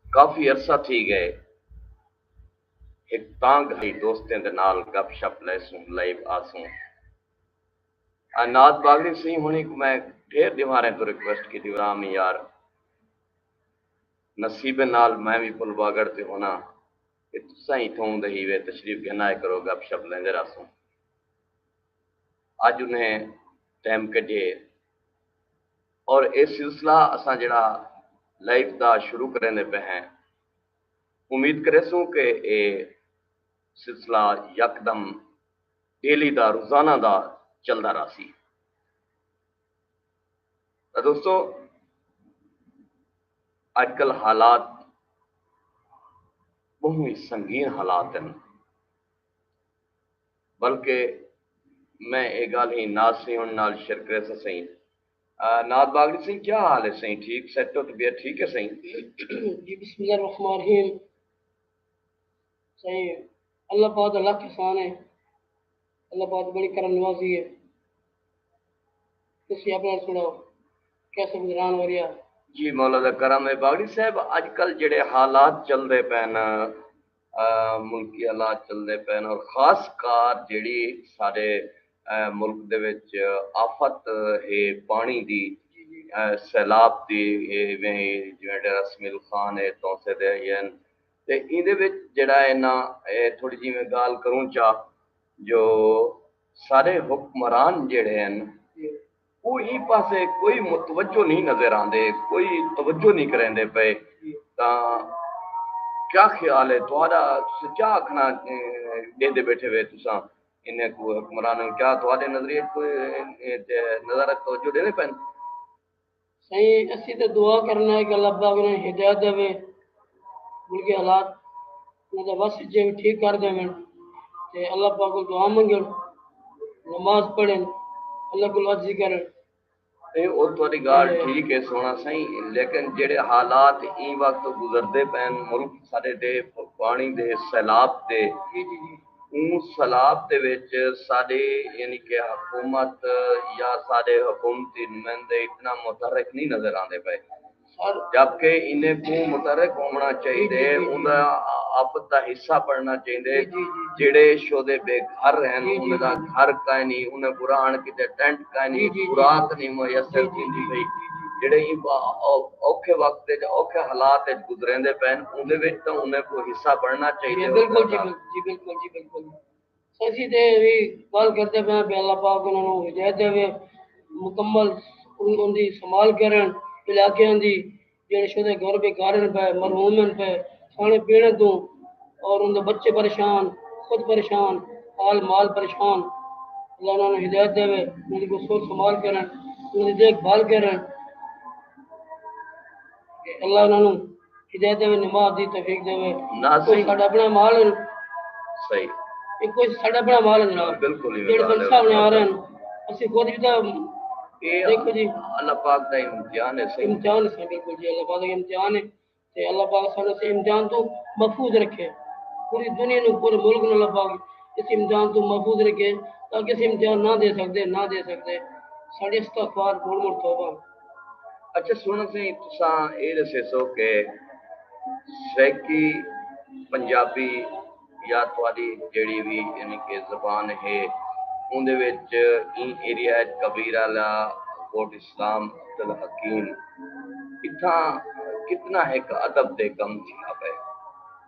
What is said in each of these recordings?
کافی عرصہ تھی گئے ہک تاں گھائی دوستیں دے نال گپ شپ لیسوں لائیو آسوں عناد باغڑی سئیں ہنی کوں میں ڈھیر ڈیواریں توں ریکویسٹ کیتی وراں می یار نصیبیں نال میں وی پل واگڑ تے ہناں تے تساں ہی تھوں دے ہیوے تشریف گھن آئے کرو گپ شپ لیندے راہسوں اج انہیں ٹیم کڈھیے اور اے سلسلہ اساں جیڑھا لائیف دا شروع کریندے پئے ہیں امید کریسوں کہ اے سلسلہ یکدم ڈیلی دا روزانہ دا چلدا راہسی تاں دوستو اج کل حالات بہوں ہی سنگین حالات ہیں بلکہ میں اے گالھ ہی ناز سیون نال شیئر کریسا سئیں ناد باغڑی سئیں کیا حال ہے سئیں ٹھیک سیٹ ہو طبیعت ٹھیک ہے سئیں جی بسم اللہ الرحمن الرحیم سئیں اللہ پاک دا لکھ احسان ہے اللہ پاک بڑی کرم نوازی ہے تسی اپنا سناؤ کیسے گزران ہو رہا جی مولا دا کرم ہے باغڑی صاحب اج کل جڑے حالات چل دے پین ملکی حالات چلدے پئے ہن اور خاص کار جیڑھی سارے ملک دے وچ آفت ہے پاݨی دی سیلاب دی ایویں جویں ڈیرہ سمیل خان ہے تونسے دے ہئی ہن تے ایندے وچ جیڑھا ہے نا تھوڑی جی میں گالھ کروں چا جو سارے حکمران جیڑھے ہن او ایں پاسے کوئی متوجہ نئیں نظر آندے، کوئی توجہ نئیں کریندے پئے تاں کیا خیال اے تہاݙا تساں کیا آکھݨا ݙیندے ٻیٹھے وے تساں انھیں کوں حکمراناں کوں کیا تہاݙے نظریے اچ کوئی ایں تے نظر اچ توجہ ݙیندے پئن؟ سئیں اسی تاں دعا کرݨا اے کہ اللہ پاک انھاں کوں ہدایت ݙیوے ملکی حالات انہاں دا وس اچ ہے ٹھیک کر ڈیون تے اللہ پاک کول دعا منگن نماز پڑھن اللہ کول عرضی کرن۔ نہیں او تہاڈی گالھ ٹھیک ہے سوہنڑا سائیں لیکن جیڑھے حالات ایں وقت گزردے پئن ملک ساڈے دے پانڑی دے سیلاب دے اوں سیلاب دے وچ ساڈی یعنی کہ حکومت یا ساڈے حکومتی نمائندے اتنا متحرک نہیں نظر آندے پئے جبکہ انہیں کوں متحرک ہووݨا چاہیدے، اوندا آپ دا حصہ بݨݨا چاہیدے، جیڑھے شودے بے گھر ہن انہیں دا گھر کائنی، انہیں کوں رہݨ کیتے ٹینٹ کائنی، خوراک نئیں میسر تھیندی پئی، جیڑھے اوکھے وقت اچ اوکھے حالات اچ گزریندے پئن اوندے وچ تاں انہیں کوں حصہ بݨݨا چاہیدے، انہاں دا۔ اسی تے اے وی گالھ کردے پئے آں کہ اللہ پاک انہاں نوں ہدایت ڈیوے، مکمل انہاں دی سنبھال کرن، علاقیاں دی جیڑھے شدہ گھر بے گھر ہن پئے، مرحوم ہن پئے، کھانے پینے توں اور انہاں دے بچے پریشان، خود پریشان، حال مال پریشان، اللہ انہاں نوں ہدایت ڈیوے، انہاں دی کوئی سوچ سنبھال کرن، انہاں دی دیکھ بھال کرن کہ اللہ انہاں نوں ہدایت دے نماز دی توفیق دے ناظرین ساڈا اپنا مال ہے صحیح یہ کوئی ساڈا اپنا مال ہے جناب بالکل ہی جڑے سن سامنے آ رہے ہیں اسی خود بھی تھا دیکھو جی اللہ پاک دا امتحان ہے صحیح امتحان ہے صحیح بالکل جی اللہ پاک دا امتحان ہے تے اللہ پاک سانو اس امتحان تو محفوظ رکھے پوری دنیا نو پورے ملک نو اللہ پاک اس امتحان تو محفوظ رکھے تاکہ اس امتحان نہ دے سکتے نہ دے سکتے ساڈے استغفار مول مول توبہ اچھا سوہݨا سئیں تساں اے ݙسیسو کہ سرائیکی پنجابی یا تہاݙی جیڑھی وی یعنی کہ زبان ہے اوندے وچ ایں ایریا وچ کبیر آلا کوٹ اسلام عبدالحکیم اتھاں کتنا ہک ادب تے کم تھیا پئے۔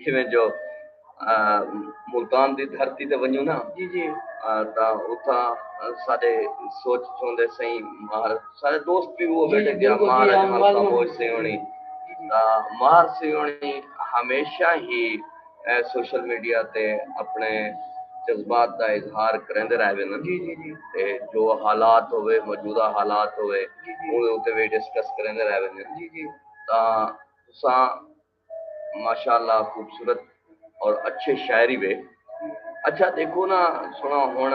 جیویں جو ملتان دی دھرتی تے ونجوں نا تاں اتھاں ساڈے سوچ چوندے سئیں مہر سارے دوست بھی وہ بیٹھے گیا مہر اجمل خاموش سی ہونی تاں مہر سی ہونی ہمیشہ ہی سوشل میڈیا تے اپنے جذبات دا اظہار کریندے رہ ویندے جی جی جی تے جو حالات ہوئے موجودہ حالات ہوئے اون تے وی ڈسکس کریندے رہ ویندے جی جی تاں تساں ماشاءاللہ خوبصورت اور اچھے شاعری وے اچھا دیکھو نا سنا ہن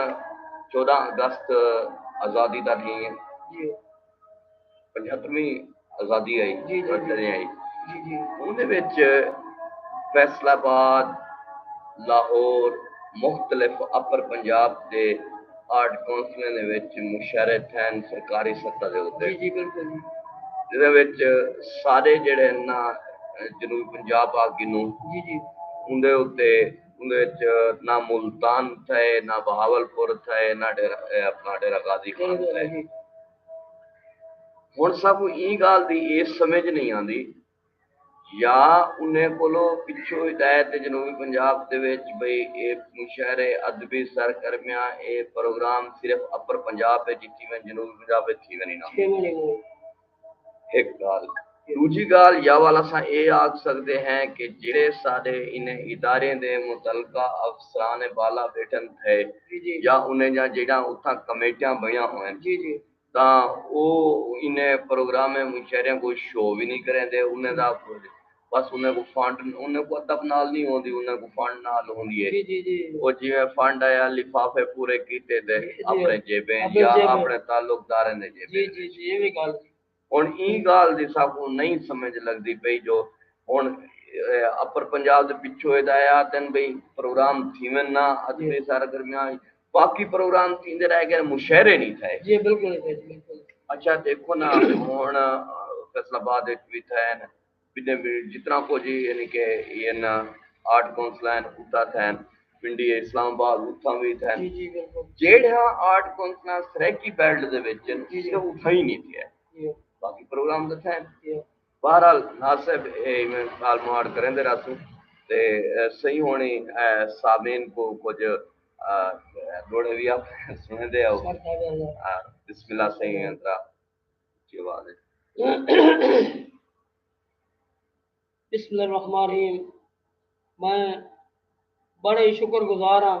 چودہ اگست آزادی دا ڈھیں جی پنجہترویں آزادی آئی جی جی آئی جی جی اندے وچ فیصل آباد لاہور مختلف اپر پنجاب دے آرٹ کونسلیں دے وچ مشرے تھین سرکاری سطح دے اتے جدے وچ سارے جڑے انہا جنوبی پنجاب آگ گنوں اندھے اتے اندھے وچ نہ ملتان تھے نہ بہاول پور تھے نہ اپنا ڈیرہ غازی خان تھے ہون سب این گال دی ایس سمجھ نہیں آن دی یا انہیں کولو پچھو ہدایت ہے جنوبی پنجاب دے وچ بھئی اے مشاعرے ادبی سرگرمیاں اے پروگرام صرف اپر پنجاب وچ ہی تھیون جنوبی پنجاب وچ تھیون ہی نہ ہک گال ڈوجھی گال یا وال اساں اے آکھ سکدے ہیں کہ جیڑھے ساڈے انہیں اداریں دے متعلقہ افسران بالا بیٹھن تھئے یا انہیں جاں جیڑھاں اتھاں کمیٹیاں بنیاں ہوئن تاں او انھیں پروگرامیں مشاعریاں کوں شو وی نی کریندے انھیں دا بس انھیں کوں فنڈ انھیں کوں ادب نال نی ہوندی انھیں کوں فنڈ نال ہوندی اے او جیویں فنڈ آیا لفافے پورے کیتے تے اپنڑیں جیبیں اچ یا اپنڑیں تعلقداریں دے جیبیں اچ ہنڑ ایں گالھ دی ساکوں نئیں سمجھ لگدی پئی جو ہنڑ اپر پنجاب دے پچھوں اے دا اے آہدن بھئی پروگرام تھیون نہ ادبی سرگرمیاں اچ باقی پروگرام تھیندے رہ گئے مشاعرے نہیں تھئے جی بالکل نہیں تھئے جی بالکل اچھا دیکھو نا ہن فیصل آباد وچ بھی تھین بنے بھی جتنا کو جی یعنی کہ این آرٹ کونسل ہیں اتا تھین پنڈی اسلام آباد اتھاں بھی تھین جی جی بالکل جیڑھا آرٹ کونسل سرائیکی بیلٹ دے وچ جی جی اتھاں ہی نہیں تھیا جی باقی پروگرام تے تھین جی بہرحال ناز صاحب اے ایویں گالھ مہاڑ کریندے رہسوں تے سئیں ہوݨی سامعین کوں کجھ ݙوہڑے وی آپݨے سݨیندے ہاؤ بسم اللہ سئیں اندرا اچھی آواز اچ بسم اللہ الرحمن الرحیم میں بڑے ہی شکر گزار ہاں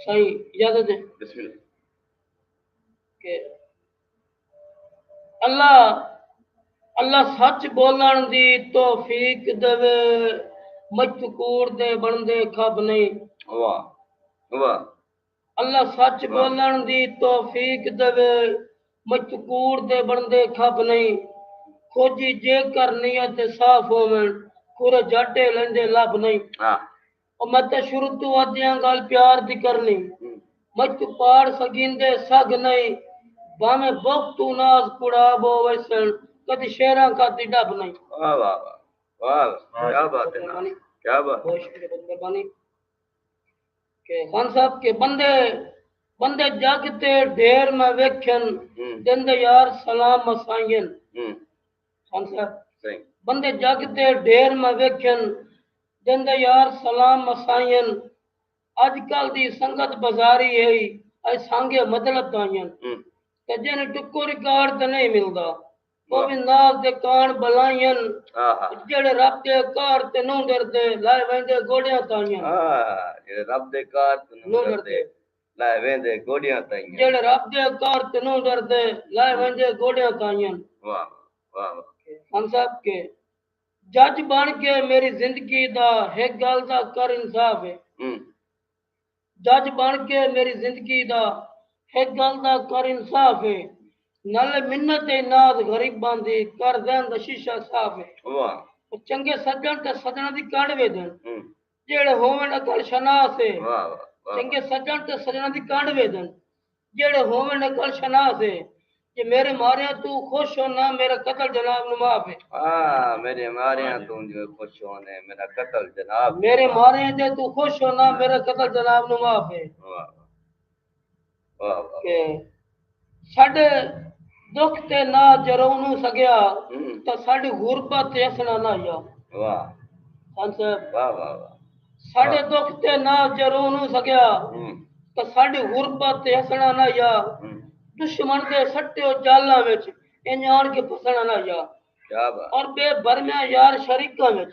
سائیں اجازت دے بسم اللہ کہ اللہ اللہ سچ بولن دی توفیق دے مجتکور دے بندے کھب نہیں واہ واہ اللہ سچ بولن دی توفیق دے مجتکور دے بندے کھب نہیں کھوجی جے کر نیت صاف ہوون کھورے جٹے لیندے لب نہیں ہاں۔ او میں تاں شروع توں آ دیاں گالھ پیار دی کرنی مجھ توں پاڑ سگیندے سگھ نئیں بھاویں بغ توں ناز کوڑا بو ویسن کدی شعراں کاتی ڈب نئیں واہ واہ واہ واہ کیا بات ہے نا کیا بات بہت شکریہ بہت مہربانی کہ خان صاحب کے بندے بندے جگ تے ڈھیر میں ویکھن دن دے یار سلام مسائین خان صاحب بندے جگ تے ڈھیر میں ویکھن جندے یار سلام مسائین اج کل دی سنگت بزاری ہئی ائی سانگے مطلب تائین کجے نی ٹکو ریکارڈ تے نہیں ملدا او وی ناز دے کان بلائین جیڑھے رب دے قہر تے نوں ڈردے لائے ویندے گوڈیاں تائین جیڑھے رب دے قہر تے نوں ڈردے لائے ویندے گوڈیاں تائین جیڑھے رب دے قہر تے نوں ڈردے لائے ویندے گوڈیاں تائین واہ واہ واہ خان صاحب کے جج بݨ کے میݙی زندگی دا ہک ڳالھ دا کر انصاف اے جج بݨ کے میݙی زندگی دا ہک ڳالھ دا کر انصاف اے نالے منت تے ناز غریباں دی کر ذہن دا شیشہ صاف اے واہ چنگے سڄݨ تے سڄݨاں دی کݙ ویندن جیڑھے ہوون عقل شناس اے۔ چنگے سجݨ تے سجݨاں دی کنڈ ویدن۔ جیڑھے ہوون عقل شناس اے۔ جے میرے ماریاں توں خوش ہن ناں میرا قتل جناب نوں معاف اے۔ میرے ماریاں توں جے خوش ہن اے میرا قتل جناب نوں معاف اے۔ میرے ماریاں جے توں خوش ہن ناں میرا قتل جناب نوں معاف اے۔ کہ ساڈے دکھ تے نہ جرونوں سگیا تاں ساڈی غربت تے اسنا نہ یا خان صاحب ساڈے دکھ تے نہ جرونوں سگیا تاں ساڈی غربت تے اسنا نہ یا دشمن دے سٹیو جالاں وچ انج آن کے پھسنا نہ یا اور بے برمیاں یار شریکاں وچ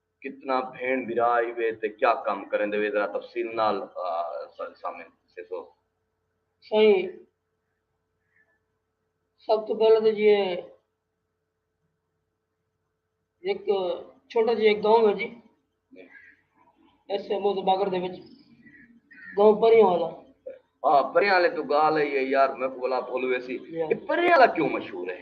کتنا بھین برا ای وے تے کیا کم کریندے وے ذرا تفصیل نال ساڈے سامنے سیسو۔ سائیں سب توں پہلے تے جی ایک چھوٹا جی ایک گاؤں ہے جی ایسے موت باگر دے وچ گاؤں پریاں والا ہاں پریاں والے تو گال ہے یار میں کو بلا بھول ویسی پریاں والا کیوں مشہور ہے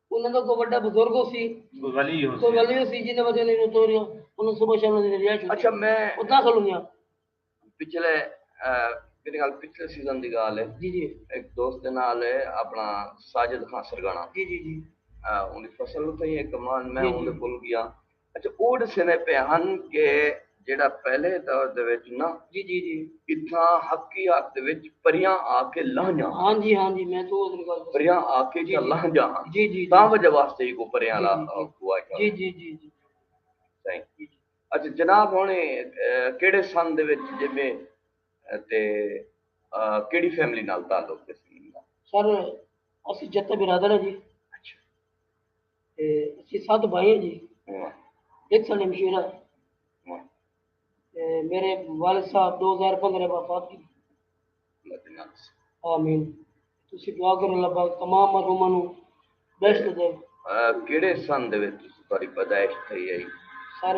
انہاں دا کوئی وڈا بزرگ ہوسی۔ کوئی ولی ہوسی۔ کوئی ولی ہوسی جنہاں وجہ نال انہاں توریاں۔ انہاں صبح شام انہاں دی رہائش ہوسی۔ اچھا میں۔ او داخل ہوندیاں۔ پچھلے میرے خیال پچھلے سیزن دی گالھ ہے۔ جی جی۔ ہک دوست دے نال ہے اپنا ساجد خان سرگانا۔ جی جی جی۔ اوندی فصل اتھاں ہی ہے کمان میں اوندے کول گیا۔ اچھا او ڈسیندے پئے ہن کہ جیڑھا پہلے دور دے وچ نہ اتھاں حقیات دے وچ پریاں آ کے لہہ جاں پریاں آ کے اتھاں لہہ جاں ہاں تاں وجہ واسطے ایکوں پریاں لا کوا اچھا جناب ہن کیڑھے سن دے وچ جیویں تے کیڑھی فیملی نال تعلق ہے سر اسی جتے برادر ہیں جی اسی سات بھائیاں جی ایک سال مشیرہ میرے والد صاحب دو ہزار پندرہ وفات کی آمین تسی دعا کرو اللہ پاک تمام مرحوماں نو بیشت دے کیڑے سن دے وچ تسی تہاڈی پیدائش تھئی ہے سر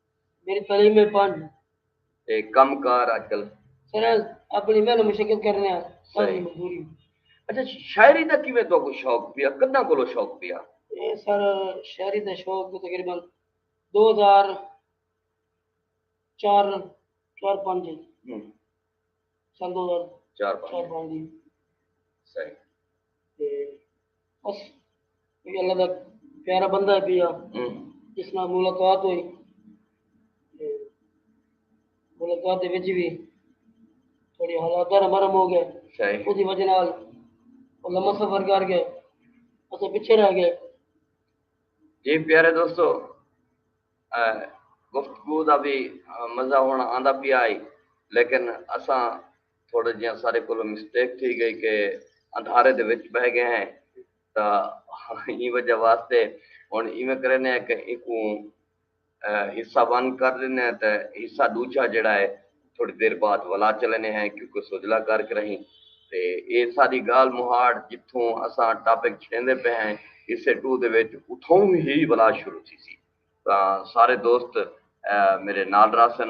میݙی تعلیم ہے پنج۔ تے کم کار اڄ کل۔ سریں اپݨی محنت مشقت کرݨے آں سارے دی مزدوری۔ اچھا شاعری دا کیویں تہاکوں شوق پیا کݙاں کولوں شوق پیا؟ اے سر شاعری دا شوق تقریبا دو ہزار چار چار پنج اچ سن دو ہزار چار پنج دی صحیح۔ تے بس یہ اللہ دا پیارا بندہ ہے پیا جس نال ملاقات ہوئی تے ملاقات دے وچ بھی تھوڑی حالات دا مرم ہو گئے صحیح اودی وجہ نال او لمبا سفر کر گئے اسے پیچھے رہ گئے جی پیارے دوستو اہ، گفتگو دا بھی مزہ ہونا آندا پیا آئی لیکن اساں تھوڑا جیاں سارے کولو مسٹیک تھی گئی کہ اندھارے دے وچ بہ گئے ہیں تا ہی وجہ واسطے ہن ایویں کرینے ہیں کہ ایکو حصہ ون کر لینے ہیں تے حصہ دوجھا جڑا ہے تھوڑی دیر بعد ولا چلینے ہیں کیونکہ سجلا کر کے رہیں تے اے ساری گال مہاڑ جتھوں اساں ٹاپک چھیندے پے ہیں حصے ٹو دے وچ اتھوں ہی ولا شروع تھی سی تا سارے دوست میرے نال راسن۔